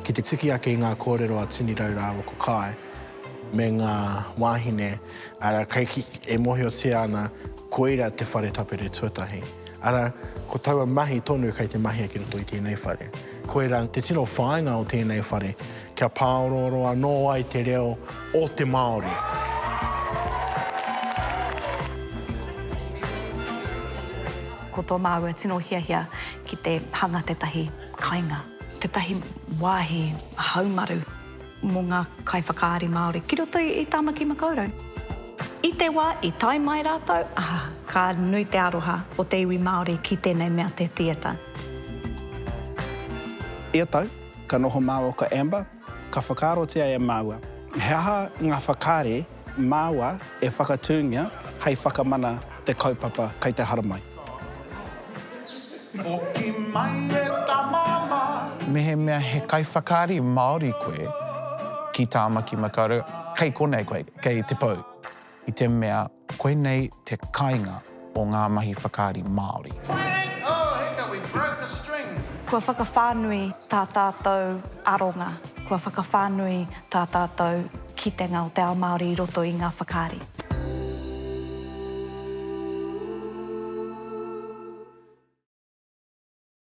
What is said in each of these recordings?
Ki te tiki ake i ngā kōrero a Tini Rau rāua ko Kae me ngā wāhine, arā, kei ki, e mōhiotia ana koira te whare tapere tuatahi. Arā, ko taua mahi tonu kei te mahia ki roto i tēnei whare. Koirā te tino whāinga o tēnei whare, kia pāorooro anō ai te reo o te Māori. Ko tō māua tino hiahia ki te hanga tētahi kainga, tētahi wāhi haumaru mō ngā kaiwhakaari Māori ki roto i Tāmaki Makaurau. I te wā i tae mai rātou, ka nui te aroha o te iwi Māori ki tēnei mea te theatre. Ia tau, ka noho māua ko Amber Ka whakaarotia e māua he aha ngā whakaari māua e whakatūngia hei whakamana te kaupapa kei te haramai. Hoki mai e ta mama. Mehemea he kaiwhakaari Māori koe ki Tāmaki Makaurau, kei konei koe, kei te pou. I te mea. Koinei te kainga o ngā mahi whakaari Māori. Kua whakawhānui tā tātou aronga, kua whakawhānui tā tātou kitenga o te ao Māori i roto i ngā whakaari.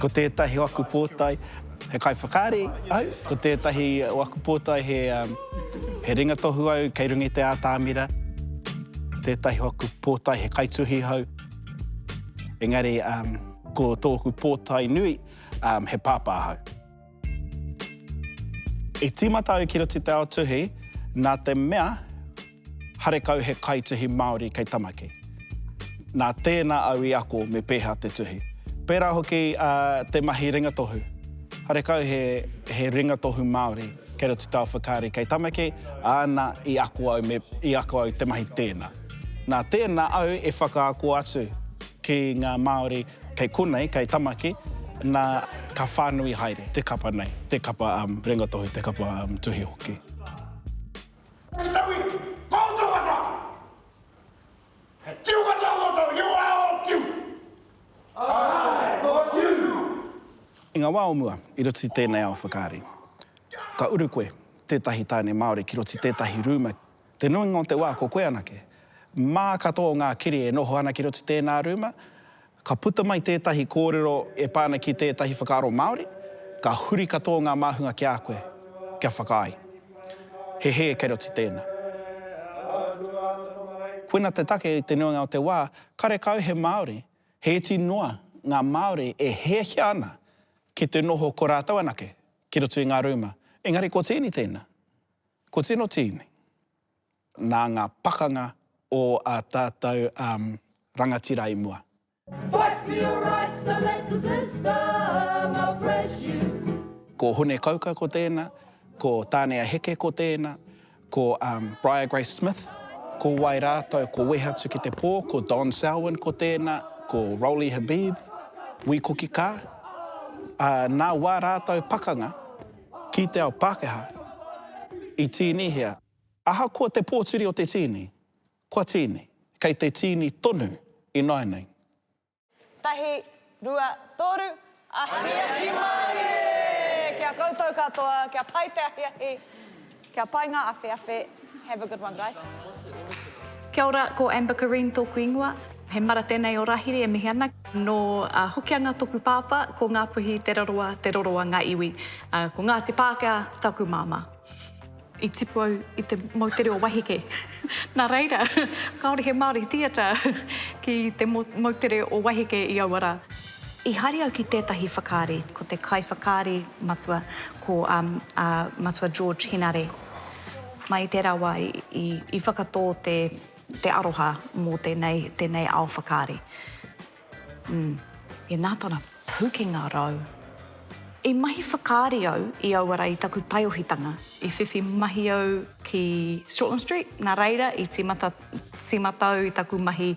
Ko tētahi o aku pōtae he kaiwhakaari au, ko tētahi o aku pōtae he he ringatohu au kei runga i te ātamira, ko tētahi o aku pōtae he kaituhi hau, engari ko tōku pōtae nui he pāpā hau. I tīmata au ki roto te ao tuhi nā te mea harekau he kaituhi Māori kei Tamaki. Nā tēnā au i ako me pēhea te tuhi. Pērā hoki te mahi ringatohu. Harekau he ringatohu Māori kei roto te ao whakaari kei Tamaki, āna i ako au me i ako au te mahi tēnā. Nā tēnā au e whakaako atu ki ngā Māori Kei konei, kei Tamaki, nā, ka whānui haere te kapa nei, te kapa Rangatohi, te kapa tuhi hoki. Hei taku iwi, koutou katoa! He tiu katoa koutou i ora o Tiu? Āe, ko Tiu! I ngā wā o mua, i roto i tēnei ao whakaari, ka uru koe tētahi tāne Māori ki roto i tētahi rūma, Te nuinga o te wā ko koe anake. Mā katoa o ngā kiri e noho ana ki roto i tēnā rūma, ka puta mai tētahi kōrero e pā ana ki tētahi whakaaro Māori, ka huri katoa ngā māhunga ki a koe, kia whakaae. He hē kei roto i tēnā. Koina te take i te nuinga o te wā, karekau he Māori, he iti noa ngā Māori e hiahia ana ki te noho ko rātou anake ki roto i ngā rūma, engari ko Tiini tēnā. Ko tino tīni, nā ngā pakanga o a tātou rangatira i mua. Ko Hune Kauka ko tēna, ko Tānea Heke ko tēna, ko Briar Grace Smith, ko wai rātou, ko Wehe Atu Ki Te Pō, ko Don Selwyn ko tēna, ko Rolly Habib, Wī Kuki Kaa, ā, nā wā rātou pakanga Ki te ao Pākehā, i tīnihia, ahakoa te pōturi o te tīni, kua tīni, kei te tīni tonu ināianei. Tahi, rua, tōru, ahiahi mārie! Ki a koutou katoa, kia pai te ahiahi, Kia pai ngā awheawhe, have a good one guys. Kia ora, ko Amber Kareem tōku ingoa. He mara tēnei o Rahiri e mihi ana. Nō Hokianga tōku pāpā, ko Ngāpuhi Te Roroa, Te Roroa ngā iwi. Ko Ngāti Pākehā taku māmā. I tipu au i te moutere o Wahike. Nā reira, kāore he Māori theatre ki te moutere o Wahike i aua rā. I haere au ki tētahi whakaari, ko te kaiwhakaari matua, ko a Matua George Henare. Mai i tērā wā i whakatō te aroha mō tēnei ao whakaari. I nā tōna pūkenga rau, i mahi whakaari au i aua ra i taku taiohitanga. I whiwhi mahi au ki Shortland Street, nā reira i tīmata au i taku mahi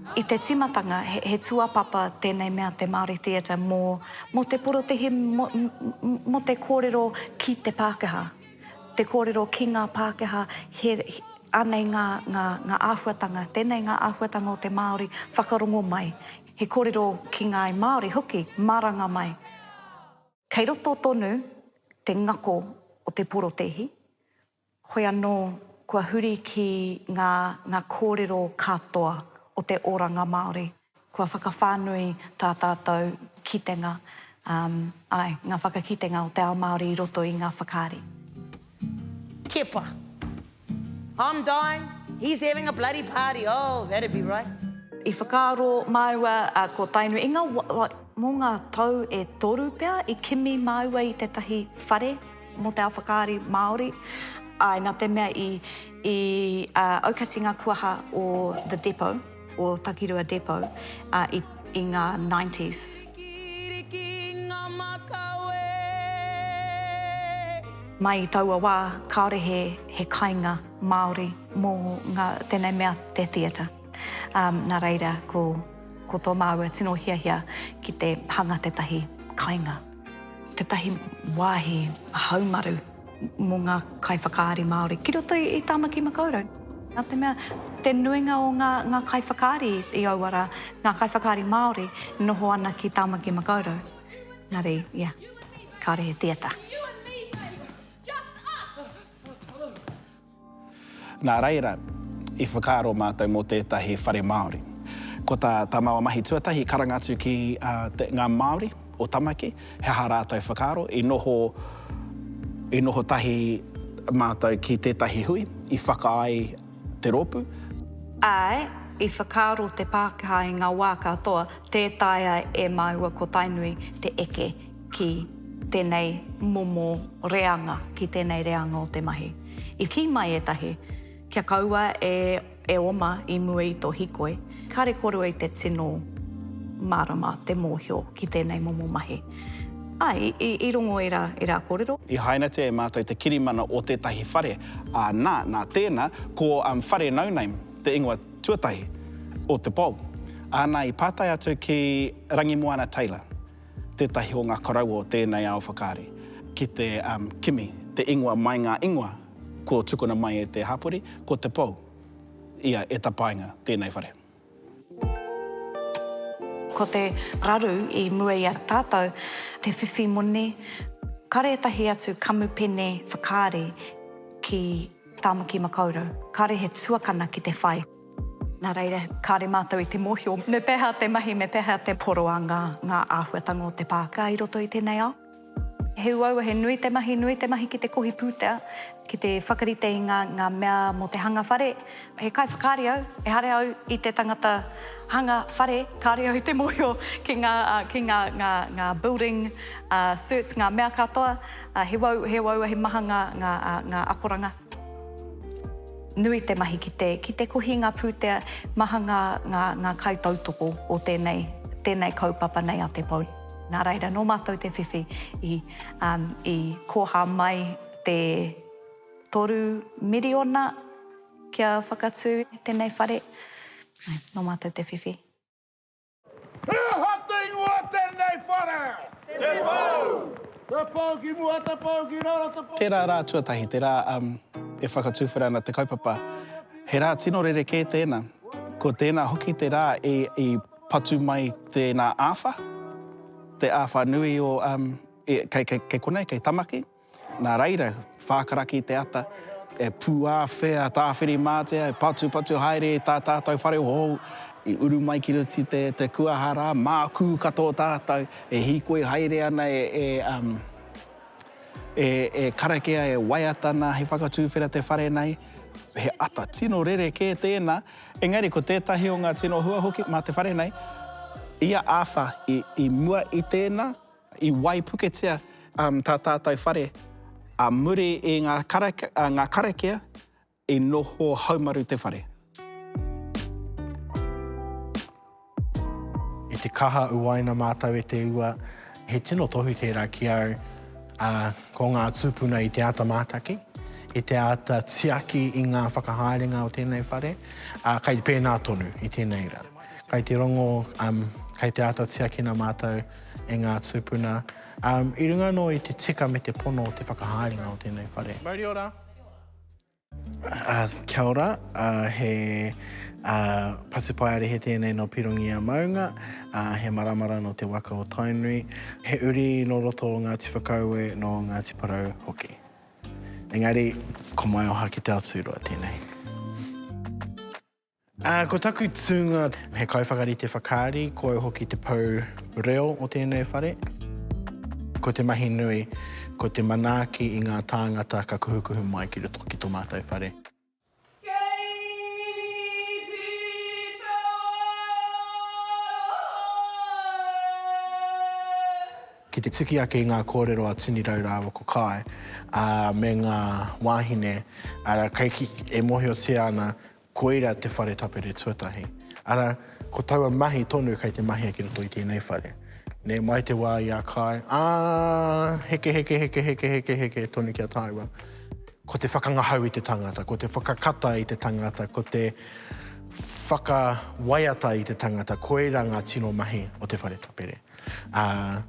I te timatanga, he tuapapa tenei mea te Māori Theatre mo mo te porotehi mo te korero ki te Pākehā, te korero ki ngā Pākehā, he anei nga nga nga ahuatanga, tenei nga ahuatanga o te Māori whakarongo mai, he korero ki ngāi Māori hoki maranga mai. Kei roto tonu te ngako o te porotehi, Hoi anō, kua huri ki ngā ngā kōrero katoa o te oranga Māori. Kua whakawhānui tā tātou kitenga, āe, ngā whakakitenga o te ao Māori i roto i ngā whakaari. Kepa. I'm dying, he's having a bloody party, oh, that'd be right. I whakaaro māua ko Tainu i ngā, mō ngā tau e toru pea i kimi māua i tētahi whare. mō te ao whakaari Māori, āe, nā te mea i aukati ngā kuaha o The Depot, o Takirua Depot, i ngā nineties. Mai i taua wā, kāore he kainga Māori mō tēnei mea te theatre. Nā reira, ko tō māua tino hiahia ki te hanga tētahi kainga. Tētahi wāhi haumaru mō ngā kaiwhakaari Māori ki roto i Tāmaki Makaurau. Nā te mea, te nuinga o ngā, ngā kaiwhakaari i aua rā, ngā kaiwhakaari Māori e noho ana ki Tāmaki Makaurau. Nā reī, ia, kāore he theatre. Nā reira, i whakaaro mātou mō tētahi whare Māori. Ko tā tā māua mahi tuatahi karanga atu ki te ngā Māori o Tamaki, he aha rātou whakaaro, i noho, i noho tahi mātou ki tētahi hui i whaka ai te rōpū. Āe, i whakaaro te Pākehā i ngā wā katoa, tē taea e māua ko Tainui te eke ki tēnei momo reanga, ki tēnei reanga o te mahi. I kī mai ētahi, kia kaua e oma i mua i tō hikoi, kāre korua i te tino mārama te mōhio ki tēnei momo mahi. Āe, i rongo i rā kōrero. I hainatia e mātou te kirimana o tētahi whare, ā, nā, nā tēnā, ko Whare No Name te ingoa tuatahi o te pou. Āna i pātai atu ki Rangimoana Taylor. tētahi o ngā koroua o tēnei ao whakaari, ki te kimi te ingoa mai ngā ingoa kua tukuna mai e te hapori, ko Te Pou ia e tapaina tēnei whare. Ko te raru i mua i a tātou, te whiwhi moni, kāre ētahi atu kamupene whakaari ki Tāmaki Makaurau, kāre he tuakana ki te whai. Nā reira, kāre mātou i te mōhio me pēhea te mahi, me pēhea te poroanga ngā āhuatanga o te pāka i roto i tēnei ao. He uaua, he nui te mahi, nui te mahi ki te kohi pūtea, ki te whakarite i ngā, ngā mea mō te hanga whare. He kaiwhakaari au, ehara au i te tangata hanga whare, kāre au i te mōhio ki ngā, ki ngā, ngā, ngā building certs, ngā mea katoa. He uaua, he maha ngā, ngā, ngā akoranga. Nui te mahi ki te, ki te kohi ngā pūtea, maha ngā, ngā, ngā kaitautoko o tēnei, tēnei kaupapa nei a Te Pou. Nā reira, nō mātou te whiwhi i, um, i kōhā mai te toru miriona kia whakatū tēnei whare. Nō mātou te whiwhi. He aha te ingoa o tēnei whare? Te Pou! Te Pou ki mua, Te Pou ki raro, Te Pou ki reira. Tērā rā tuatahi, te rā e whakatuwhera ana te kaupapa, he rā tino rerekē tēnā. Ko tēnā hoki te rā i patu mai tēnā āwha, te āwha nui o, kei konei, kei Tamaki. Nā reira, whākaraki te ata, e pūāwhea tāwhirimātea, e patupatu haere i tā tātou whare hou, i uru mai ki roto i te kuaha rā, mākū katoa tātou, e hīkoi haere ana e karakia, e waiata ana hei whakatūwhera te whare nei. He ata tino rerekē tēnā, engari ko tētahi o ngā tino hua hoki mā te whare nei, ia āwha i mua i tēnā, I waipuketia tā tātou whare ā muri i ngā karakia i noho haumaru te whare. I te kaha uaina mātou e te ua, he tino tohu tērā ki au, ā, ko ngā tūpuna i te āta mātaki, i te āta tiaki i ngā whakahaerenga o tēnei whare, ā, kei pēnā tonu i tēnei rā. Kei te rongo, kei te āta tiakina mātou. e ngā tūpuna, i runga anō i te tika me te pono o te whakahaerenga o tēnei whare. Mauri ora! Kia ora, he Patupaiarehe tēnei nō Pirongia Maunga, he maramara nō te waka o Tainui, he uri nō roto o Ngāti Whakaue, nō Ngāti Porou hoki. Engari, ko Maioha ki Te Aoturoa tēnei. Ā, ko taku tūnga, he kaiwhakarite whakaari, ko au hoki te pou reo o tēnei whare. Ko te mahi nui, ko te manaaki i ngā tāngata ka kuhukuhu mai ki roto ki tō mātou whare. Ki te tuki ake i ngā kōrero a Tini Rau rāua ko Kae, ā, me ngā wāhine, arā, kei, e mōhiotia ana Koira te whare tapere tuatahi, ara, ko taua mahi tonu kei te mahia ki roto i tēnei whare. Nē, mai te wā i a Kāi, ā, heke, heke, heke, heke, heke, heke tonu ki a tāua. Ko te whakangahau i te tangata, ko te whakakata i te tangata, ko te whakawaiata i te tangata, koira ngā tino mahi o te whare tapere. Ā,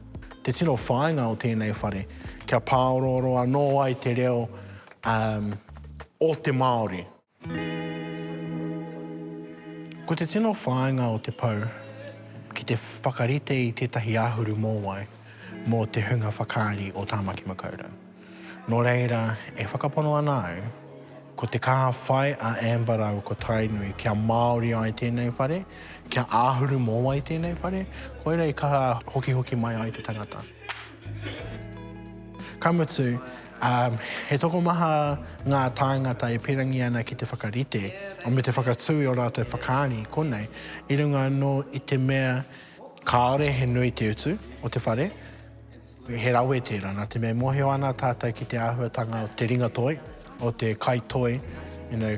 te tino whāinga o tēnei whare, kia pāorooro anō ai te reo, ā, o te Māori. Ko te tino whāinga o te pou ki te whakarite i tētahi āhuru mōwai mō te hunga whakaari o Tāmaki Makaurau. Nō reira, e whakapono ana au, ko te kaha whai a Amber rāua ko Tainui kia māori ai tēnei whare, kia āhuru mōwai tēnei whare, koira i kaha hokihoki mai ai te tangata. Ka mutu, he tokomaha ngā tāngata e pīrangi ana ki te whakarite me te whakatū i ō rātou whakaari, konei, i runga anō i te mea kāore he nui te utu o te whare, he rawe tērā, nā te mea e mōhio ana tātou ki te āhuatanga o te ringatoi, o te kaitoi,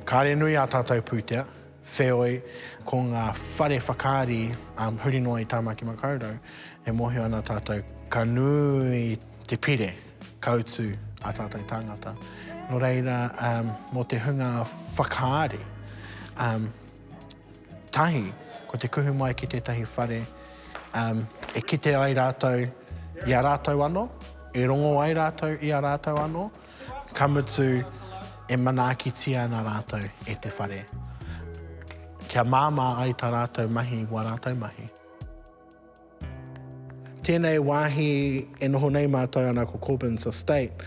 kāore nui ā tātou pūtea, Wheoi, ko ngā whare whakaari huri noa i Tāmaki Makaurau, e mōhio ana tātou ka nui te pire ka utu ā tātou tāngata. Nō reira, mō te hunga whakaari, tahi, ko te kuhu mai ki tētahi whare e kite ai rātou i a rātou anō, e rongo ai rātou i a rātou anō, Ka mutu, e manaakitia ana rātou e te whare, kia māmā ai tā rātou mahi i wā rātou mahi. Tēnei wāhi e noho nei mātou ana ko Corbins Estate,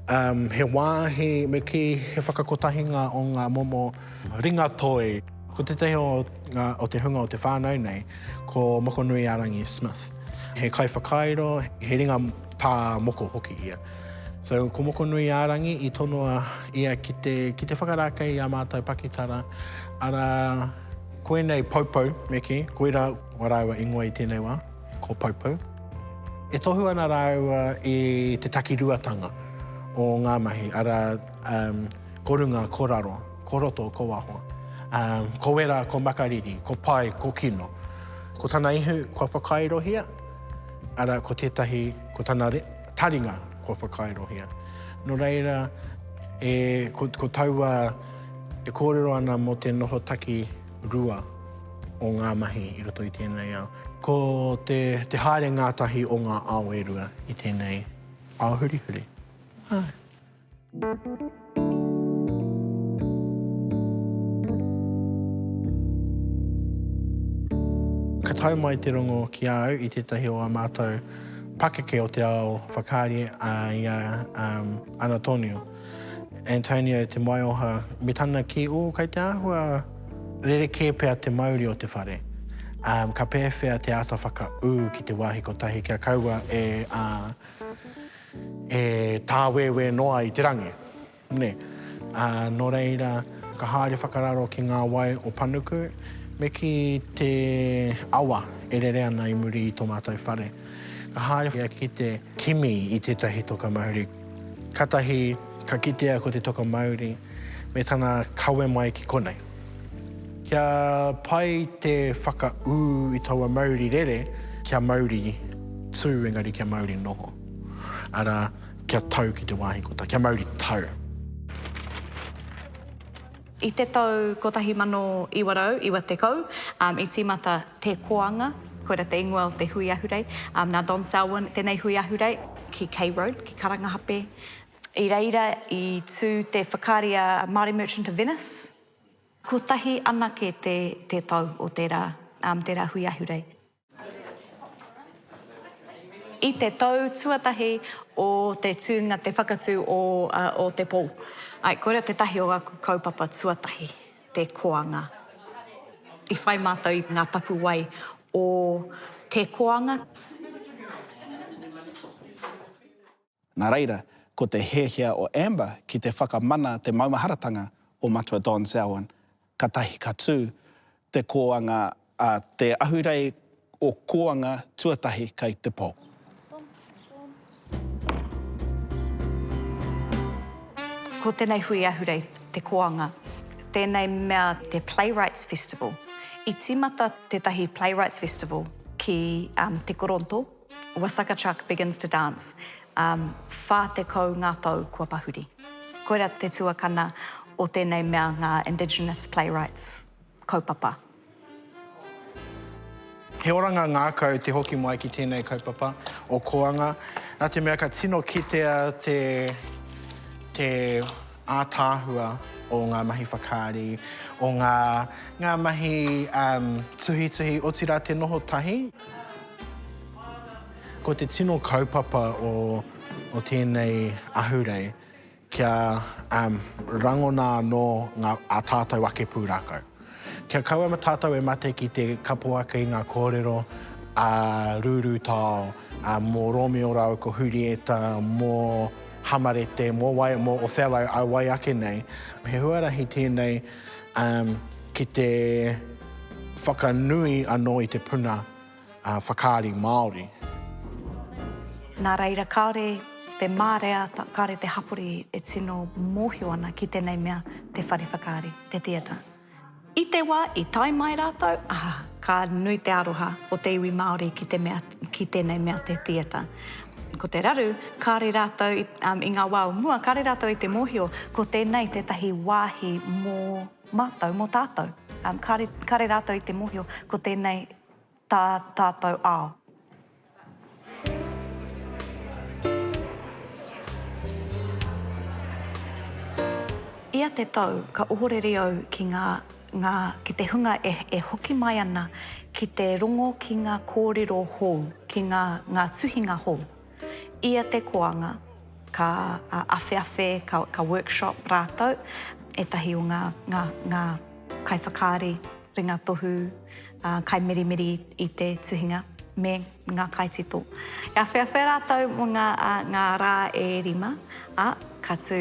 um, he wāhi me kī he whakakotahinga o ngā momo ringatoi. Ko tētahi o, ngā, o te hunga o te whānau nei, ko Mokonui-a-Rangi Smith. He kaiwhakairo, he ringa pā moko hoki ia. So, ko Mokonuiārangi i tonoa ia ki te, ki te whakarākei i a mātou pakitara, ara koinei Poupou me kī, koirā a rāua ingoa i tēnei wā, ko Poupou. E tohu ana rāua i te takiruatanga o ngā mahi, ara, um, ko runga, ko raro, ko roto, ko waho, um, ko wera, ko makariri, ko pai, ko kino. Ko tana ihu kua whakairohia, ara, ko tētahi, ko tana re, Taringa kua whakairohia. No reira, e, ko, ko taua e kōrero ana mō te noho taki rua o ngā mahi i roto i tēnei ao. Ko te, te haere ngātahi o ngā ao e rua i tēnei ao hurihuri. Āe. Ka tau mai te rongo ki a au i tētahi o ā mātou pakeke o te ao whakaari a ia Anatonio, Antonio Te Maioha, me tana kī, Oh, kei te āhua rerekē pea te mauri o te whare, ka pēwhea te āta whakaū ki te wāhi kotahi kia kaua e. E tāwēwē noa i te rangi, nē. Ā, nō reira, ka haere whakararo ki ngā wai o Panuku, me kī, te awa e rere ana i muri i tō mātou whare. Ka haere ia ki te kimi i tētahi toka mauri. Kātahi ka kitea ko te toka mauri me tana kawe mai ki konei. Kia pai te whakaū i taua mauri rere, kia mauri tū engari kia mauri noho, arā, kia tau ki te wāhi kotā, kia mauri tau. I te tau 1990, i tīmata Te Koanga, koira te ingoa o te hui ahurei, nā Don Selwyn, tēnei hui ahurei, ki Key Road, ki Karangahape, I reira i tū te whakaari a Māori Merchant of Venice. Kotahi anake te te tau o tērā, tērā hui ahurei. I te tau tuatahi o te tūnga te whakatū o o te pou. Ae, koira tētahi o aku kaupapa tuatahi, te koanga. I whai mātou i ngā tapuwae o te koanga. Nā reira, ko te hiahia o Amber ki te whakamana te maumaharatanga o Matua Don Selwyn, katahi ka tū te kōanga a Te Ahurei o Kōanga Tuatahi kei te Pō. Ko tēnei hui ahurei te kōanga, tēnei mea te Playwrights Festival. I tīmata tētahi Playwrights Festival ki Te Koronto, Wasaka Chuck begins to dance, um, whā tekau ngā tau kua pahuri. Koira te tuakana o tēnei mea ngā Indigenous Playwrights kaupapa. He oranga ngākau te hoki mai ki tēnei kaupapa o Koanga, nā te mea ka tino kitea te, te ātaahua o ngā mahi whakaari, o ngā, ngā mahi um, tuhituhi, otirā te noho tahi. Ko te tino kaupapa o tēnei ahurei kia rangona anō ā tātou ake pūrākau. Kia kaua tātou e mate ki te kapo ake i ngā kōrero a Rūrūtao, mō Romeo rāua ko Hurieta, mō Hamarete, mō Waiamoe, Othello, a wai ake nei. He huarahi tēnei. ki te whakanui anō i te puna whakaari Māori. Nā reira, kāore te mārea, kāore te hapori e tino mōhio ana ki tēnei mea te whare whakaari, te theatre. I te wā i tae mai rātou, ā, ka nui te aroha o te iwi Māori ki te mea. ki tēnei mea te theatre. Ko te raru, kāre rātou i ngā wā o mua, kāre rātou i te mōhio ko tēnei tētahi wāhi mō mātou, mō tātou. Kāre, kāre rātou i te mōhio ko tēnei tā tātou ao. Ia te tau ka ohorere au ki ngā. Ngā, ki te hunga e, e hoki mai ana ki te rongo ki ngā kōrero hou, ki ngā, ngā tuhinga hou. Ia te koanga, ka, a, awheawhe, ka, ka workshop rātou, ētahi o ngā, ngā, ngā kaiwhakaari ringatohu, ā, kaimeremere i, i te tuhinga, me ngā kaitito. E awheawhe rātou mō ngā, ā, ngā rā e rima, ā, ka tū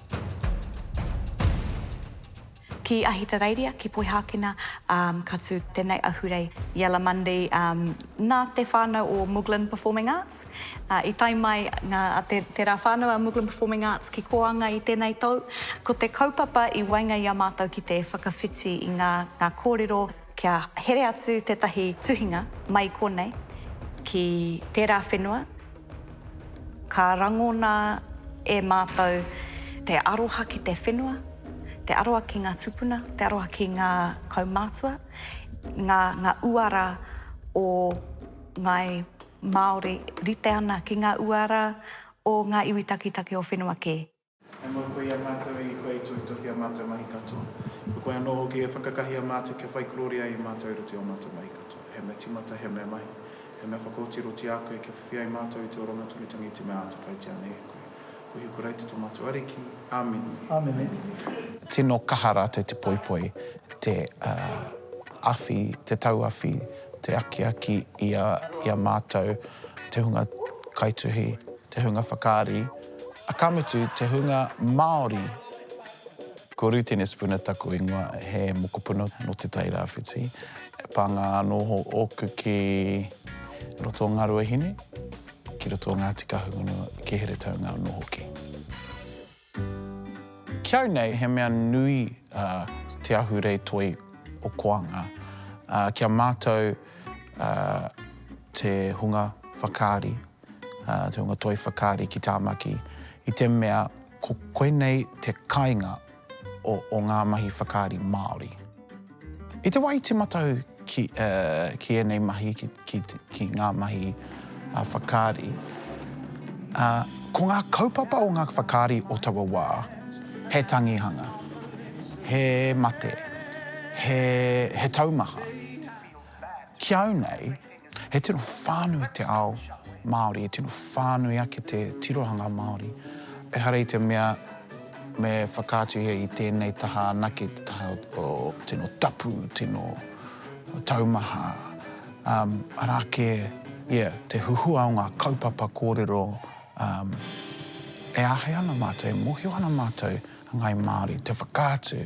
Ki Ahitereiria, ki Poihākena, um, ka tū tēnei ahurei i Alamundi, um, nā te whānau o Muglin Performing Arts. Uh, I tae mai ngā, te, te rā whānau a Muglin Performing Arts ki Koanga i tēnei tau. Ko te kaupapa i waenga i a mātou ki te whakawhiti i ngā, ngā kōrero Kia here atu tētahi tuhinga mai konei ki tērā whenua, ka rangona e mātou te aroha ki te whenua, te aroha ki ngā tūpuna, te aroha ki ngā kaumātua, ngā, ngā uara o ngāi Māori rite ana ki ngā uara o ngā iwi taketake o whenua kē. He mau koe i a mātou, i koe i toitō ki a mātou mahi katoa. Ko koe anō hoki e whakakahia mātou kia whai kororia i mātou i roto i ō mātou mahi katoa. He mea timata, he mea mahi, he mea whakaotiro ti a koe kia whiwhi ai mātou i te oranga tonutanga i te mea āta whaitia nei e koe. Ko Hiku Raiti tō mātou Ariki. Āmene. Tino kaha rātou te poipoi, te awhi, te tauawhi, te akiaki i a mātou, te hunga kaituhi, te hunga whakaari. Ka mutu, te hunga Māori. Ko Rūtene Spooner taku ingoa, he mokopuna nō Te Tai Rāwhiti. He pānga anō ōku ki roto o Ngāruahine, ki roto o Ngāti Kahungunu, ki Heretaunga anō hoki. Ki au nei, he mea nui te ahurei toi o Koanga. Ki a mātou te hunga whakaari Te Hunga Toi Whakaari ki Tāmaki, i te mea ko koinei te kainga o ngā mahi whakaari Māori. I te wā i tīmata au ki ēnei mahi, ki ngā mahi whakaari, ko ngā kaupapa o ngā whakaari o taua wā, he tangihanga, he mate, he taumaha. Ki au nei, He tino whānui te ao Māori, he tino whānui ake te tirohanga Māori. Ehara i te mea me whakaatuhia i tēnei taha anake te taha o tino tapu, tino taumaha, arā kē, ia, te huhua o ngā kaupapa kōrero e āhei ana mātou, e mōhio ana mātou a ngāi Māori, te whakaatu.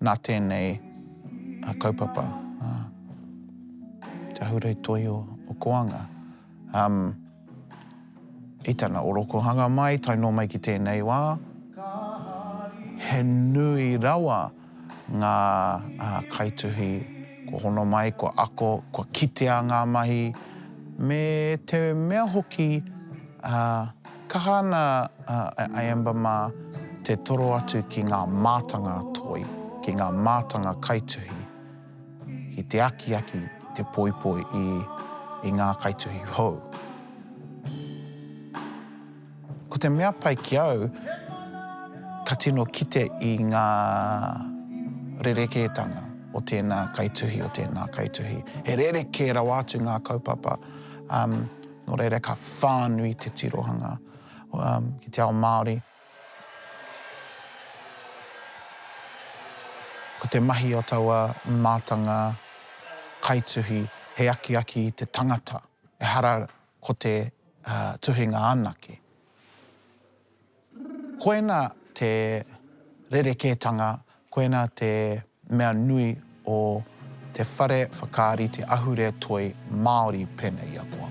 Nā tēnei kaupapa, te Ahurei Toi o Koanga, i tana orokohanga mai, tae noa mai ki tēnei wā, he nui rawa ngā kaituhi kua hono mai, kua ako, kua kitea ngā mahi, me te mea hoki, Kaha ana a Amber mā te toro atu ki ngā mātanga toi, ki ngā mātanga kaituhi, ki te akiaki, ki te poipoi i ngā kaituhi hou. Ko te mea pai ki au, ka tino kite i ngā rerekētanga o tēnā kaituhi, o tēnā kaituhi. He rerekē rawa atu ngā kaupapa. Nō reira ka whānui te tirohanga ki te ao Māori. Ko te mahi o taua mātanga kaituhi he akiaki i te tangata, ehara ko te tuhinga anake. Koina te rerekētanga, koina te mea nui o te whare whakaari, te ahurea toi Māori pēnei i a koa.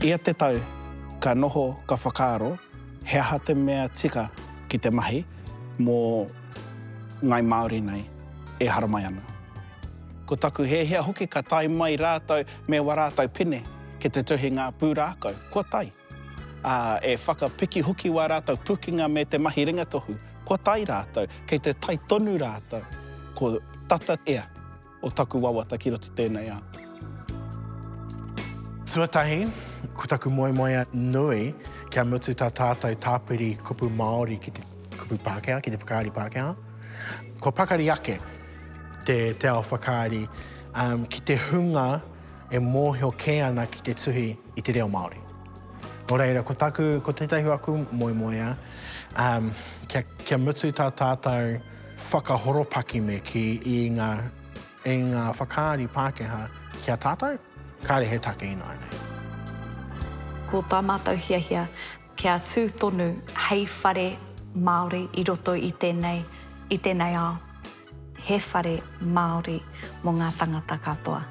Ia te tau, ka noho ka whakaaro he aha te mea tika ki te mahi mō Ngai Māori nei e haramai ana. Ko taku hiahia hoki ka tae mai rātou me wa rātou pene ki te tuhinga pūrākau kua tae, ā, e whakapiki hoki wā rātou pukinga me te mahi ringatohu kua tae rātou kei te tae tonu rātou ko tata ea. o taku wawata ki roto tēnei ao. Tuatahi, ko taku moemoea nui, kia mutu tā tātou tāpiri kupu Māori ki te kupu Pākehā, ki te whakaari Pākehā, kua pakari ake te, te ao whakaari um, ki te hunga e mōhio kē ana ki te tuhi i te reo Māori. Nō reira, ko taku, ko tētahi aku moemoea, um, kia, kia mutu tā tātou Whakahoropaki me kī i ngā i ngā whakaari Pākehā ki a tātou, kāre he take ināianei. Ko tā mātou hiahia kia tū tonu hei whare Māori i roto i tēnei, i tēnei ao. He whare Māori mō ngā tangata katoa.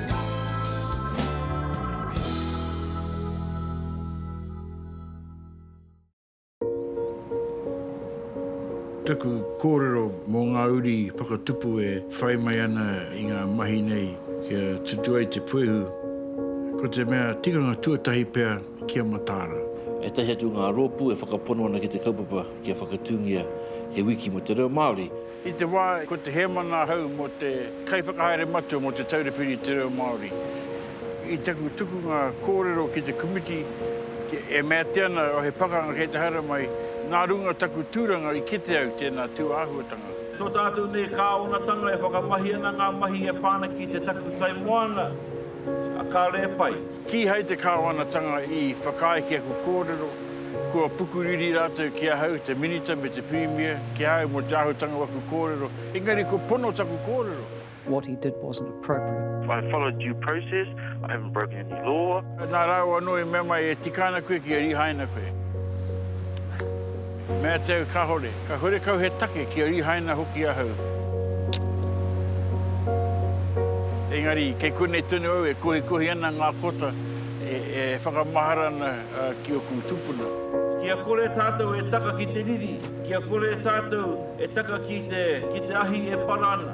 Taku kōrero mō ngā uri whakatupu e whai mai ana i ngā mahi nei kia tutu ai te puehu, ko te mea tikanga tuatahi pea kia mataara. Ētahi atu o ngā rōpū e whakapono ana ki te kaupapa kia whakatūngia he wiki mō te reo Māori. I te wā ko te hēmana ahau mō te Kaiwhakahaere Matua mō Te Taura Whiri i te Reo Māori, i taku tukunga kōrero ki te komiti e mea atu ana o he pakanga kei te haere mai, nā runga taku tūranga i kite au tēnā tūāhuatanga. Tō tātou nei Kāwanatanga e whakamahi ana ngā mahi e pā ana ki te takutai moana, a Kareepai. Kīhai te Kāwanatanga i whakaae ki aku kōrero, kua pukuriri rātou ki ahau, te Minita me te Pirimia, ki a au mō te āhutanga o aku kōrero, engari kua pono taku kōrero. What he did wasn't appropriate. I followed due process, I haven't broken any law. Nā rāua anō i mea mai, e tika ana koe kia rīhaina koe. Mea tau kahore, ka huri kau he take kia rihaina hoki ahau. Engari, kei konei tonu au e kohikohi ana nga kota e whakamahara ana ki oku tupuna. Kia kore tatou e taka ki te riri, kia kore tatou e taka ki te, ki te ahi e para ana.